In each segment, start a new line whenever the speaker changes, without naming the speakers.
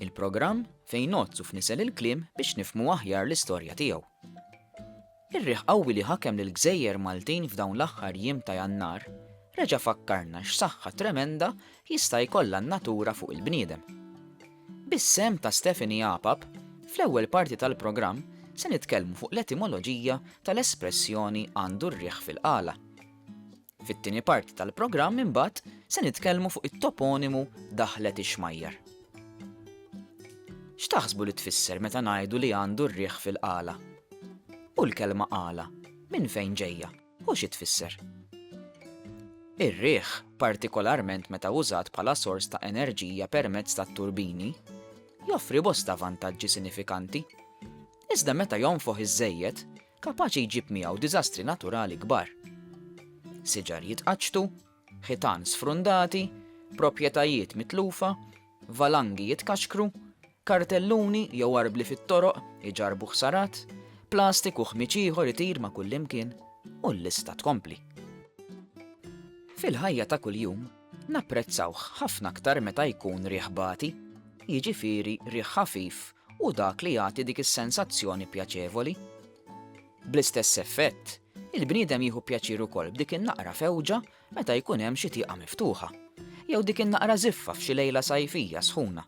Il-programm fejn ngħodd u fnisel il-kliem biex nifhmu aħjar l-istorja tiegħu. Ir-riħ qawwi li ħakem lill-gżejjer Maltin f'dawn l-aħħar jiem ta' Jannar reġa' fakkarna x'saħħa tremenda jista' jkollha n-natura fuq il-bniedem. Bis-sehem ta' Stephanie Apap, fl-ewwel parti tal-programm se nitkellmu fuq l-etimoloġija tal-espressjoni għandu r-riħ fil-qala. Fit-tieni parti tal-programm imbagħad se nitkellmu fuq it-toponimu Daħlet ix-Xmajjar. X'taħsbu li tfisser meta ngħidu li għandu r-riħ fil-qala? U l-kelma qala minn fejn ġejja u xi tfisser? Ir-riħ, partikolarment meta użat bħala sors ta' enerġija permezz tat-turbini, joffri bosta vantaġġi sinifikanti. Iżda meta jonfoħ iżżejjed, kapaċi jġib miegħu diżastri naturali kbar. Siġar jitqaċċtu, ħitan sfrundati, proprjetajiet mitlufa, valangi jitkaxkru, kartelluni jew arbli fit-toroq iġarrbu ħsarat, plastik u ħmieġ ieħor itir ma' kullimkien, u l-lista tkompli. Fil-ħajja ta' kuljum, Napprezzawh ħafna aktar meta jkun riħ bati, jiġifieri riħ ħafif u dak li jagħti dik is-sensazzjoni pjaċevoli. Bl-istess effett, il-bniedem jieħu pjaċir ukoll b'dik in-naqra fewġa meta jkun hemm xi tieqa miftuħa, jew dik in-naqra żiffa f'xi lejla sajfija sħuna.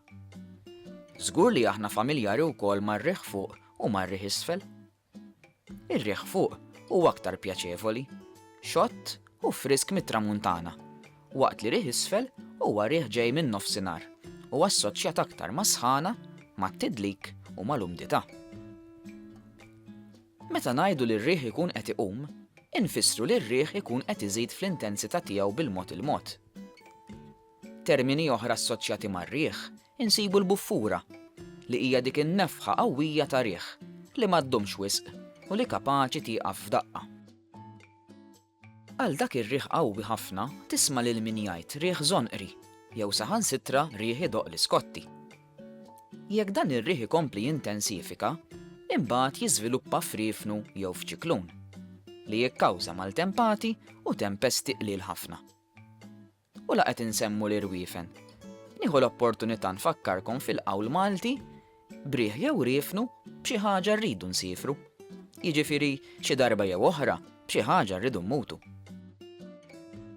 Żgur li aħna familjari wkoll mar-riħ fuq u mar-riħ isfel. Ir-riħ fuq huwa aktar pjaċevoli, xott u frisk mit-Tramuntana, waqt li riħ isfel huwa riħ ġej min-Nofsinhar u assoċjat aktar mas-sħana, mat-tidlik u mal-umdità. Meta ngħidu li r-riħ ikun qed iqum, infissru li r-riħ ikun qed iżid fl-intensità tiegħu bil-mod il-mod. Termini oħra assoċjati mar-riħ Insibu l-buffura, li hija dik in-nefħa qawwija ta' riħ li ma ddumx wisq u li kapaċi tieqaf f'daqqa. Għal dak ir-riħ qawwi ħafna tisma' lil min jgħid riħ żonqri jew saħansitra riħ idoqq l-iskotti. Jekk dan ir-riħ ikompli jintensifika, imbagħad jiżviluppa f'riefnu jew f'ċiklun, li jikkawża maltempati u tempesti qliel ħafna. U la qed insemmu l-irwiefen. Nieħu l-opportunità nfakkarkom fil-qawl Malti, Briħ jew riefnu, b'xi ħaġa rridu nsiefru. Jiġifieri, xi darba jew oħra, b'xi ħaġa rridu mmutu.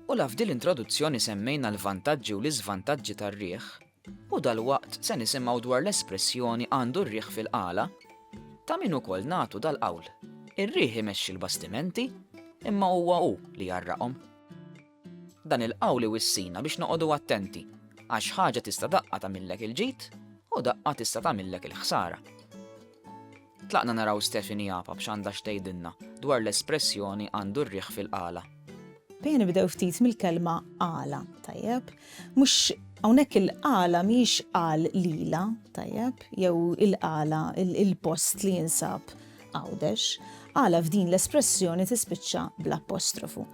U la f'dil introduzzjoni semmejna l-vantaġġi u l-iżvantaġġi tar-riħ, u dalwaqt se nisimgħu dwar l-espressjoni għandu r-riħ fil-qala, ta' min ukoll nagħtu dal-qawl, ir-riħ imexxi l-bastimenti, imma huwa hu li jgħarraqhom. Dan il-qawl iwissina biex noqogħdu attenti, għax ħaġa tista' daqqa tagħmillek il-ġid u daqqa tista' tagħmillek il-ħsara. Tlaqna naraw Stephanie Apap x'għandha x'tgħidilna dwar l-espressjoni għandu r-riħ fil-qala. Ejja nibdew ftit mill-kelma qala, tajjeb? Mhux hawnhekk il-qala mhijiex qal lila, tajjeb? Jew il-qala, il-post li jinsab Għawdex. Qala f'din l-espressjoni tispiċċa bl-apostrofu.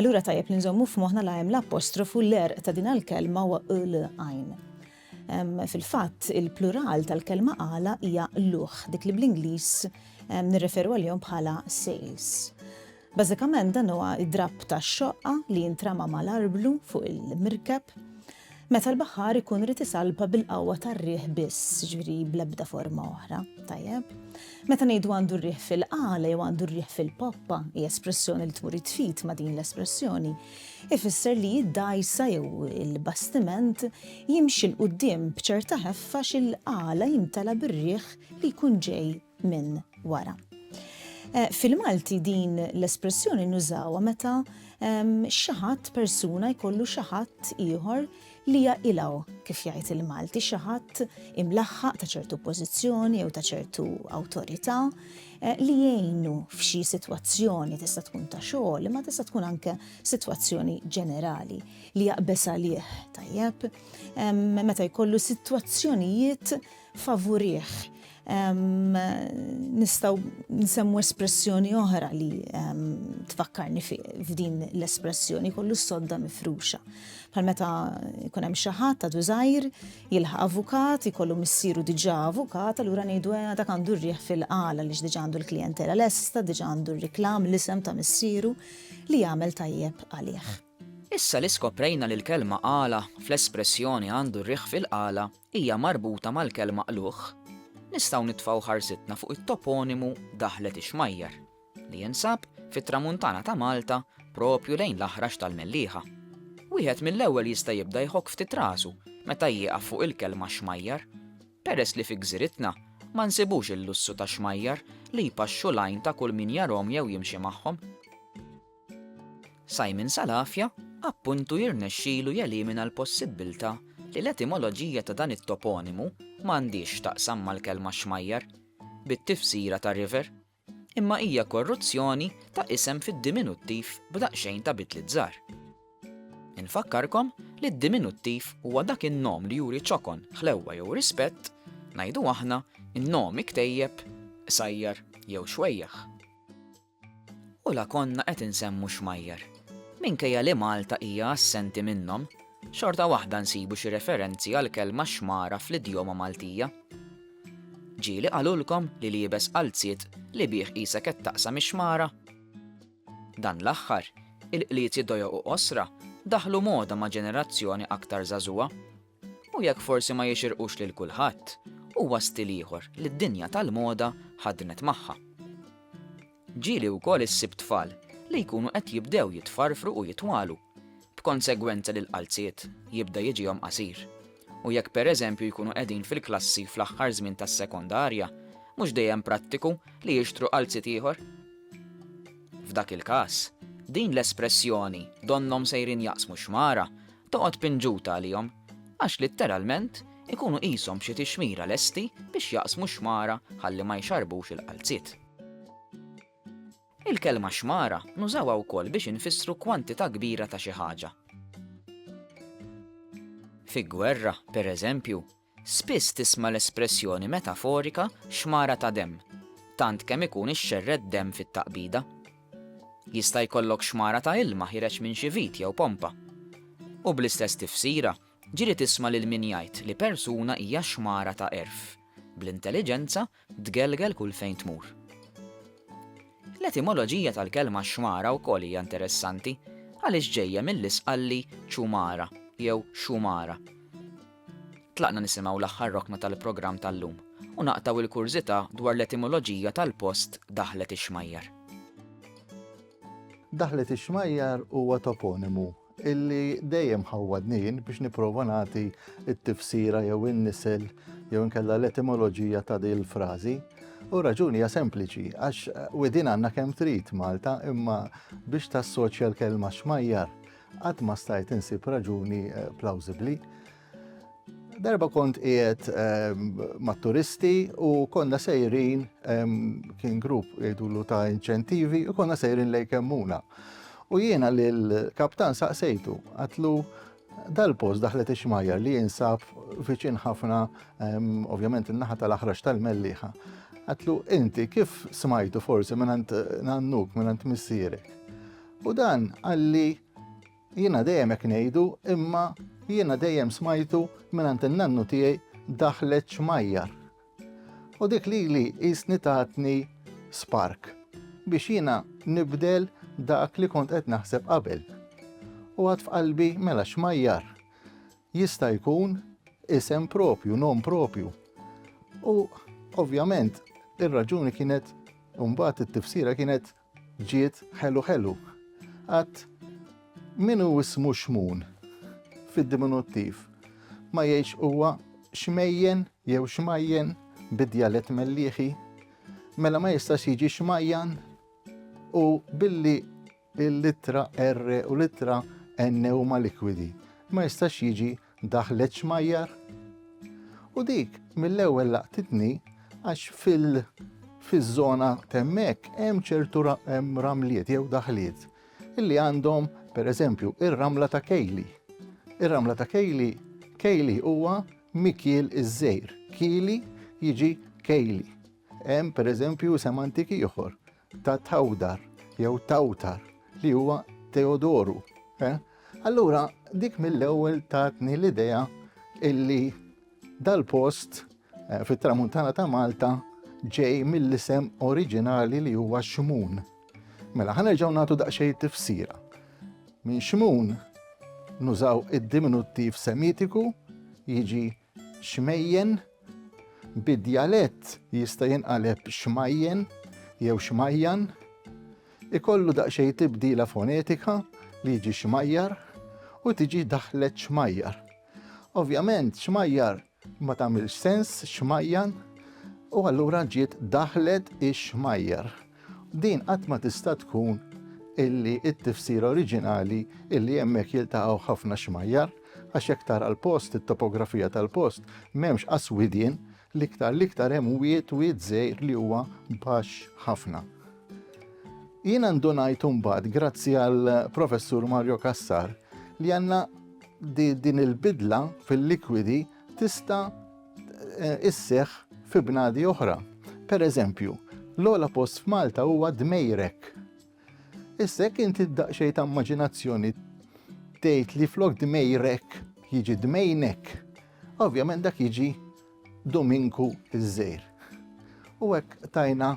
Allura tajjeb li nżommu f'moħħna la hemm l-apostrofu l-erq ta' din l-kelma wa l għajn. Fil-fatt, il-plural tal-kelma għala hija luħ, dik li bl-Ingliż nirreferu għalihom bħala sales. Bażikament dan huwa id-drapp ta' xoqqa li jintrama mal-arblu fuq il-mirkeb Meta l-baħħar ikun rid isalpa bil-qawwa tar-riħ biss, ġifieri bl-ebda forma oħra, tajjeb? Meta ngħidu għandu r-riħ fil-qala jew għandu r-riħ fil-poppa, hija espressjoni li tmur it-tfit ma' din l-espressjoni, ifisser li d-dgħajsa jew il-bastiment jimxi 'l quddiem b'ċerta ħeffa x'il-qala jimtela bir-riħ li jkun ġej minn wara. Eh, fil-Malti din l-espressjoni nużawha meta ehm, xi ħadd persuna jkollu xi ħadd ieħor li jaqilgħu kif jgħid il-Malti xi ħadd imlaħħaq ta' ċertu pożizzjoni jew ta' ċertu awtorità eh, li jgħinu f'xi sitwazzjoni tista' tkun ta' xogħol imma tista' tkun anke sitwazzjoni ġenerali li jaqbeż għalih tajjeb ehm, meta jkollu sitwazzjonijiet favurih. Nistgħu nsemmu espressjoni oħra li tfakkarni f'din l-espressjoni kollu s-sodda mifruxa. Bħal meta jkun hemm xi ħadd ta' żgħir jilħaq avukat, jkollu missieru diġà avukat, allura ngħidu eh, dak għandu rriħ fil-qala li diġà għandu l-klijentela lesta, diġà għandu r-riklam l-isem ta' missieru li jagħmel tajjeb għalih. Issa li skoprejna li l-kelma qala fl-espressjoni għandu rriħ fil-qala, hija marbuta mal-kelma qlugħ, nistgħu nitfgħu ħarsitna fuq it-toponimu Daħlet ix-Xmajjar, li jinsab fit-Tramuntana ta' Malta proprju lejn l-Aħrax tal-Mellieħa. Wieħed mill-ewwel jista' jibda jħokk ftit rasu meta jieqaf fuq il-kelma xmajjar, peress li fi gżiritna ma nsibux il-lussu ta' xmajjar li jpaxxu l-għajn ta' kull min jarahom jew jimxi magħhom. Simon Salafia, appuntu jirnexxilu jelimina l-possibbiltà li l-etimoloġija ta' dan it-toponimu ma għandhiex x'taqsam mal-kelma xmajjar, bit-tifsira ta' river, imma hija korruzzjoni ta' isem fid-diminuttiv b'daqsxejn ta' bidliet żgħar. Infakkarkom li d-diminuttiv huwa dak in-nom li juri ċokon, ħlewwa jew rispett, ngħidu aħna, in-nom iktejjeb, qsajjar jew xwejjaħ. U la konna qed insemmu xmajjar. Minkejja li Malta hija assenti minnhom, xorta waħda nsibu xi referenzi għall-kelma xmara fl-idjoma Maltija. Ġieli qalulkom li liebes qalziet li bih qisek qed taqsam ix-xmara? Dan l-aħħar, il-qliezi dojoq u qosra daħlu moda ma' ġenerazzjoni aktar żagħżugħa. U jekk forsi ma jixirqux lil kulħadd, huwa stil ieħor li d-dinja tal-moda ħaddnet magħha. Ġieli wkoll issib tfal li jkunu qed jibdew jitfarfru u jitwalu, b'konsegwenza li l-qalziet jibda jiġihom qasir. U jekk pereżempju jkunu qegħdin fil-klassi fl-aħħar żmien tas-sekondarja, mhux dejjem prattiku li jixtru qalziet ieħor? F'dak il-każ, din l-espressjoni donnhom sejrin jaqsmu x-xmara toqgħod pinġuta għalihom, għax litteralment ikunu qishom b'xi tixmira lesti biex jaqsmu x-xmara ħalli ma jxarrbux il-qalziet. Il-kelma xmara nużawha wkoll biex infissru kwantità kbira ta' xi ħaġa. Fi gwerra, pereżempju, Spiss tisma' l-espressjoni metaforika xmara ta' demm, tant kemm ikun ixxerred demm fit-taqbida. Jista' jkollok xmara ta' ilma ħiereġ minn xi vit jew pompa. U bl-istess tifsira, ġieli tisma' lil min jgħid li persuna hija xmara ta' għerf, bl-intelliġenza Tgelgel kull fejn tmur. L-etimoloġija tal-kelma xmara wkoll hija interessanti għaliex ġejja mill-Isqalli chumara jew xumara. Tlaqna nisimgħu l-aħħar rokna tal-programm tal-lum u naqtgħu l-kurżità dwar l-etimoloġija tal-post Daħlet ix-Xmajjar. Daħlet ix-Xmajjar huwa toponimu illi dejjem ħawwadni jien biex nipprova nagħti t-tifsira jew in-nisel jew inkella l-etimoloġija ta' din il-frażi. U raġuni hija sempliċi, għax eh, widin għandna kemm trid Malta, imma biex tassoċja l-kelma xmajjar, qatt ma stajt insib raġuni eh, plawsibbli. Darba kont qiegħed ehm, mat-turisti u konna sejrin ehm, kien grupp jgħidulu ta' inċentivi u konna sejrin lej kemmuna. U jiena li l-kaptan saqsejtu, għatlu dal-post daħlet ixmajjar li jinsab viċin ħafna, ovvjament in-naħa tal-aħrax tal-melliħa. Għatlu, inti kif smajtu forsi minnant nannuk, minnant missirek? U dan għalli Jiena dejjem hekk ngħidu imma jiena dejjem smajtu mingħand in-nannu tiegħi daħlet xmajjar. U dik lili qisni tatni spark biex jiena nibdel dak li kont qed naħseb qabel. U għad f'qalbi mela xmajjar jista' jkun isem propju, nom propju. U ovvjament ir-raġuni kienet imbagħad it-tifsira kienet Ġiet ħelu ħelu. Għad min hu ismu xmun fid-diminuttiv ma jgħidx huwa xmejjen jew xmajjen bid-djalett mellieħi, mela ma jistax jiġi xmajjan u billi l-litra R u l-litra N huma likwidi ma jistax jiġi Daħlet xmajjar u dik mill-ewwel laqtitni għax fil- fiż-żona temmek hemm ċertu ramliet jew daħliet illi għandhom pereżempju ir-ramla ta' Kejli. Ir-ramla ta' Kejli Kejli huwa mikiel iż-żejr. Kili jiġi Kejli. Hemm pereżempju sem antik ieħor ta' Tawdar jew Tawtar li huwa Teodoru. Eh? Allura dik mill-ewwel tatni l-idea illi dal-post eh, fit-tramuntana ta' Malta ġej mill-isem oriġinali li huwa Xmun. Mela ħanerġgħu nagħtu daqsxejn tifsira. Minn Xmun nużaw id-diminuttiv semitiku jiġi xmejjen, bid-djalett jista' jinqaleb xmajjen jew xmajjan, ikollu daqsxejn tibdila fonetika li jiġi xmajjar u tiġi daħlet xmajjar. Ovvjament xmajjar ma tagħmilx sens xmajjan u allura ġiet daħlet ix-xmajjar. Din qatt ma tista' tkun illi t-tifsira oriġinali illi hemmhekk jiltaqgħu ħafna xmajjar, għax jekk tara l-post, it-topografija tal-post, m'hemmx qas widien, l-iktar l-iktar hemm wied, wied żgħir li huwa baxx ħafna. Jiena ndunajt imbagħad grazzi għal Professur Mario Cassar li għandna din il-bidla fil-likwidi tista' isseħħ fi bnadi oħra. Per eżempju, l-ogħla post f'Malta huwa Dmejrek. Issa jekk inti daqsxejn ta' immaġinazzjoni tgħid li flok Dmejrek jiġi Dmejnek, ovvjament dak jiġi Dominku iż-żejr. U hekk tajna